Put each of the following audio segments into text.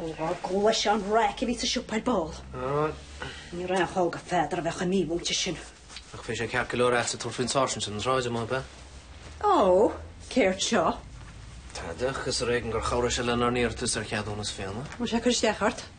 Ní raibh gá leis an raic a bhí sa siopa ar ball. Ní raibh aon chall go Pheadar a bheith chomh mímhúinte sin. Ach bhí sé ceart go leor a'dsa tabhairt faoin sáirsint ar an tsráid amuigh, ab ea? Ó, céard seo? Tadhg, is ar éigean gur chabhraigh sé lenár n-iarratas ar cheadúnas fíona. Bhfuil sé ag cur isteach ort?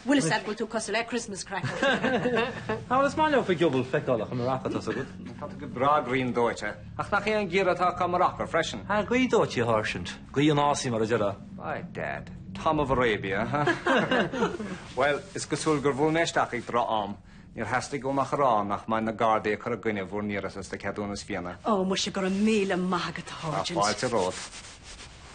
Bhfuil fhios a'd go bhfuil tú cosúil le Christmas cracker. Á, bhuel, is maith leofa giobail feiceálach i Maracó, tá's agat. Tá tú go breá griandóite. Ach nach é an geimhreadh atá acu i Maracó freisin. Á, gaothdhóite a Sháirsint? Gaoth an fhásaigh mar a déarfá. By dad. Tom of Arabia, ha? Bhuel, is cosúil gur bhuail mé isteach ag droch-am. Níor theastaigh uaim ach a rá nach mbeidh na Gardaí ag cur i gcoinne bhur n-iarratas do cheadúnas fíona. Ó, muise, go raibh míle maith agat a Sháirsint. Tá fáilte romhat.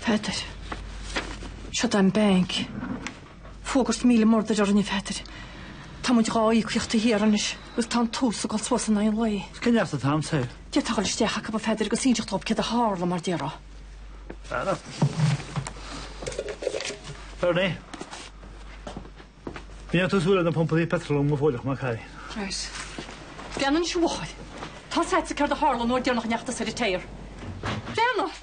Pheadair. Siúd an banc. Fógairt míle murdar orainn a Pheadair. Táimid dhá íocaíocht thiar anois agus tá an t-ús ag dul suas in aghaidh an lae. Cén neart atá a'msa air? D'fhéadfá goil isteach acu a Pheadair agus inseacht dhób céard a tharla mar déarfá. Anna. Bernie. Bíonn tú súil ar na pumpaí petrol mo bhóileach má cai. Right. Déanann siúáil. Tá's a'dsa céard a tharla an uair dheireanach a ndeachaigh tusa téir. Déanach!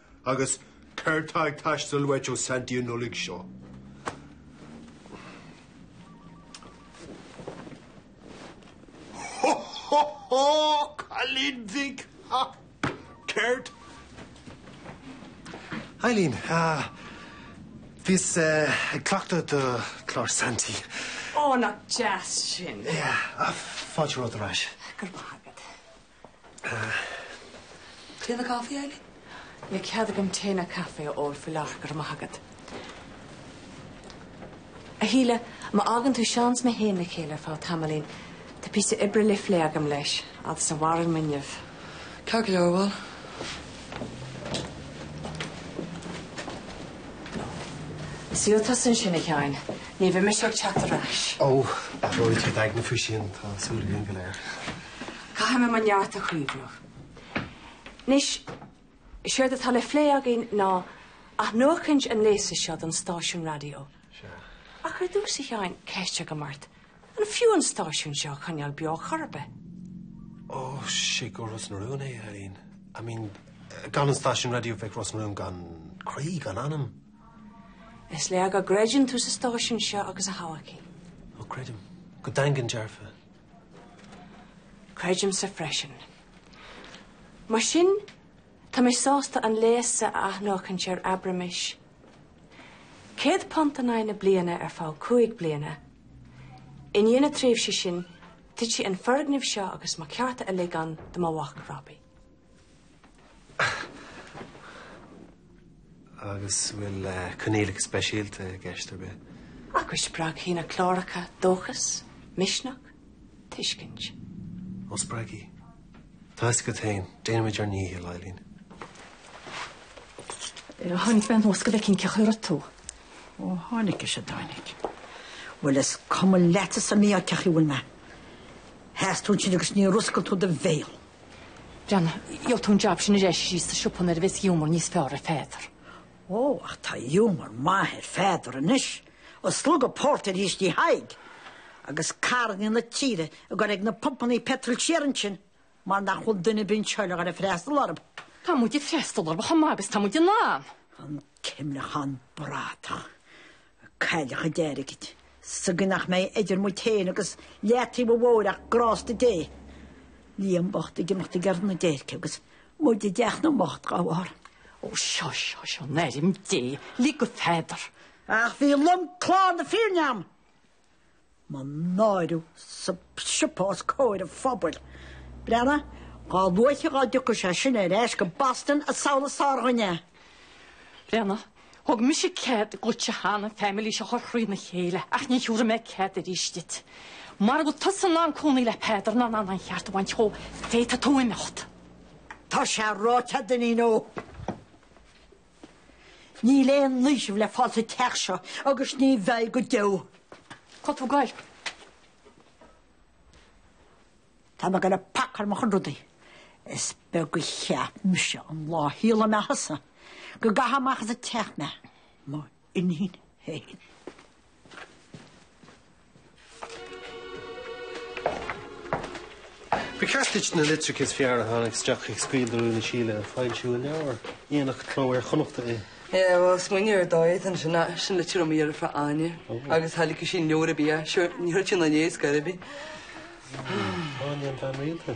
Agus céard tá ag teastáil uait ó Santy an Nollaig seo? Ho, ho, ho, a chailín bhig! Ha! Céard? Eileen, uh, bhíos uh, ag cleachtadh do chlár Santy. Ó, nach deas sin. Yeah, uh, fáilte romhat ar ais. Go raibh maith. Tae no caife, Ailín? Níl cead agam tae ná caife a ól faoi láthair, go raibh maith agat. A Shíle, má fhágann tú Seán 's mé fhéin le chéile ar feadh tamaillín, tá píosa oibre le phlé agam leis, fhad is a mhaireann m'fhuinneamh. Ceart go leor, bhuel. Suigh tusa ansin, a Sheáin. Ní bheidh mise ag teacht ar ais. Ó, athróidh tú d'aigne faoi sin, tá súil againn go léir. Caithfidh mé mo neart a chaomhnú. Anois, séard atá le phlé againn ná athnuachaint an léasa seo don stáisiún raidió. Ach ar dtús, a Sheáin, ceist agam ort, an fiú an stáisiún seo a choinneáil beo chor ar bith? Ó, sé guth Ros na Rún é, a Eileen. I mean, gan an stáisiún raidió bheadh Ros na Rún gan croí, gan anam. Is léir go gcreideann tú sa stáisiún seo agus a thodhchaí. Ó, creidim. Go daingean dearfa. Creidimse freisin. Mar sin, tá mé sásta an léas a athnuachaint ar, abraimis, céad punt in aghaidh na bliana ar feadh cúig bliana. I ndiaidh na tréimhse sin, titfidh an foirgneamh seo agus mo chearta uilig ann do mo mhac, Robbie. Agus bhfuil coinníollacha speisialta i gceist ar bith? Agus spreagfaidh na cláracha dóchas, misneach, tuiscint. Ó spreagfaidh. Tá a fhios agat féin, déanfaimid ár ndícheall, Eileen. Tháinig mé anuas go bhfeicfinn cén chaoi a raibh tú. Ó tháinig is a dtáinig. Bhuel is cuma leatsa sa mí-ádh cén chaoi a bhfuil mé. Sheas tú ansin agus níor oscail tú do bhéal. Breathnaigh, gheobhaidh tú an jab sin ar ais síos sa siopa nuair a bheas giúmar níos fearr ar Pheadar. Ó, ach tá giúmar maith ar Pheadar anois. Ag slogadh pórtair thíos tigh Thaidhg. Agus carranna na tíre ag gor ag na pumpannaí peitril siar ansin mar nach bhfuil duine ar bith anseo le haghaidh freastal orthu. Tá muid ag freastal orthu chomh maith agus atá muid in ann. An cuimleachán bradach. Cailleadh a chuid airgid sa gcaoi nach mbeidh idir muid féin agus leataobh an bhóthair ach grásta Dé. Liam bocht ag imeacht ag iarraidh na déirce agus muid i dteach na mbocht dhá bharr. Ó seo, seo, seo, in ainm Dé, lig do Pheadar. Ach bhí lomchlár na fírinne agam. Mo náiriú sa siopa os comhair an phobail. Breathnaigh, dhá luaithe dhá dtiocfaidh sé sin ar ais go Boston is amhlaidh is fearr dhúinne. Breathnaigh, thug mise cead dhuitse cheana an family seo a chur thrídh na chéile, ach ní thabharfaidh mé cead arís duit. Mara bhfuil tusa in ann cónaí le Peadar ná in ann a cheart a bhaint dhó, féadfaidh tú imeacht. Tá sé ráite agat, a iníon ó. Níl aon fhaoiseamh le fáil sa teach seo agus ní bheidh go deo. Cá bhfuil tú ag gabháil? Tá mé ag gabháil ag pacáil mo chuid rudaí. Is beag a cheap mise an lá a shaolaigh mé thusa go gcaithfeá amach as an teach mé. Mo iníon féin. Ba cheart duit na litreacha is fearr a tháinig isteach ag Scaoil do Rún le Síle a fhoilsiú i leabhar. Dhéanfadh Cló Iar-Chonnachta é. Yeah, bhuel, smaoineamh ar dóigh ansin ach sin litir ab fhearr fá Áine agus tháinig sí in leabhar ar bith, sure, ní chuirfidh sí na léas gairid ar bith. Áine an bhean rialta.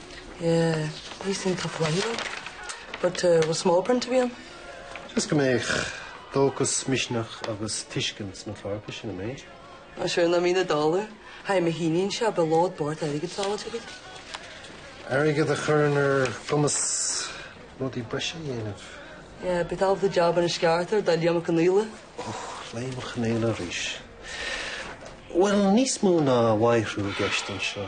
Yeah, ní sin tá polainn ann. But eh, bhfuil small print ar bith ann? Just go mbeadh dóchas, misneach agus tuiscint sna cláracha, sin an méid. Á sure ná mín a dála. Haigh mo híníon seo, beidh lód mór airgid sábháilte agaibh. Airgead a chuireann ar ár gcumas rudaí breise a dhéanamh. Yeah, bit of the job in a sceartar do Liam Ó Conghaile. Oh, Liam Ó Conghaile arís. Bhuel, níos mó ná a mhaith thú i gceist anseo.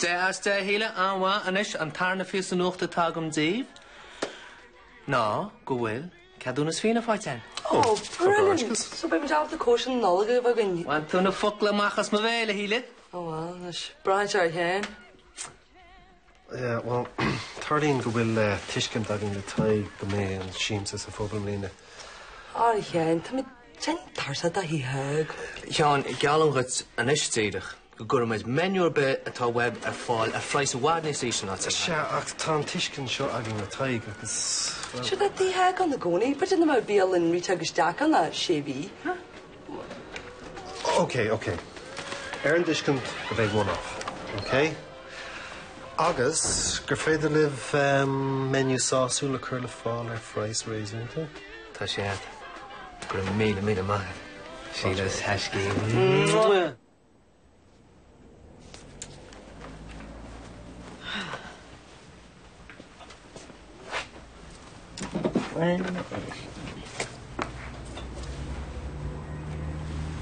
Dea as dea a Shíle, an-mhaith anois an tarna phíosa nuachta atá agam díbh ná go bhfuil ceadúnas fíona faighte againn. Oh brilliant! So beidh muid ábalta cóisir na Nollag a bheith againn. Bhain tú na focla amach as mo bhéal a Shíle. Oh well, anois braith dearg féin. Yeah well, tarlaíonn go bhfuil tuiscint againn le Tadhg go mbeidh an siamsa sa phub i mbliana. Arghein, táimid de'n tarsa do Thadhg. Sheáin, geallaim dhuit anois díreach. go gcuirfimid menu ar bith atá uaibh ar fáil ar phraghas i bhfad níos ísle ná Tigh Thaidhg. Sea, ach tá an tuiscint seo againn le Tadhg, agus, bhuel. Sea, tá Tigh Thaidhg ann i gcónaí, cuid de na mbeadh bialann rite agus deacán le sé mhí. OK, OK. Ar an dtuiscint go mbeidh one off, OK? Agus gur féidir libh menu sásúil a chur ar fáil ar phraghas réasúnta? Tá sé agat. Go raibh míle míle maith. Síle a thaisce.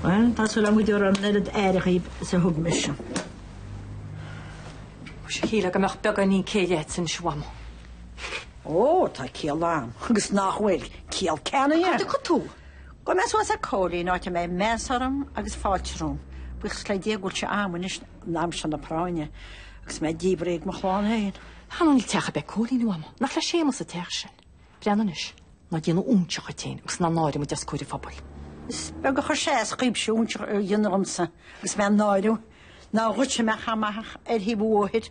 Bhuel, tá súil agam go dtabharfar an oiread aire dhaoibh is a thug mise. Muise shílfeá go mbeadh beagáinín céille agat anois a Mhama. Ó, tá ciall agam, agus nach bhfuil, ciall ceannaithe. Cá rachaidh tú? Gabhfaidh mé suas ag Cóilín, áit a mbeidh meas orm agus fáilte romham, buíochas le Dia go bhfuil sé a'am anois in am seo na práinne, agus mé díbrithe ag mo chlann féin. Ach níl teach a' bith ag Cóilín a Mhama, nach le Séamas a' teach sin. Breathnaigh anois, ná déan óinseach dhíot féin agus ná náirigh muid os comhair an phobail. Is beag a chuir sé as dhaoibhse óinseach a dhéanamh dhíomsa agus mé a náiriú, ná dhuitse mé a chaitheamh amach ar thaobh an bhóthair.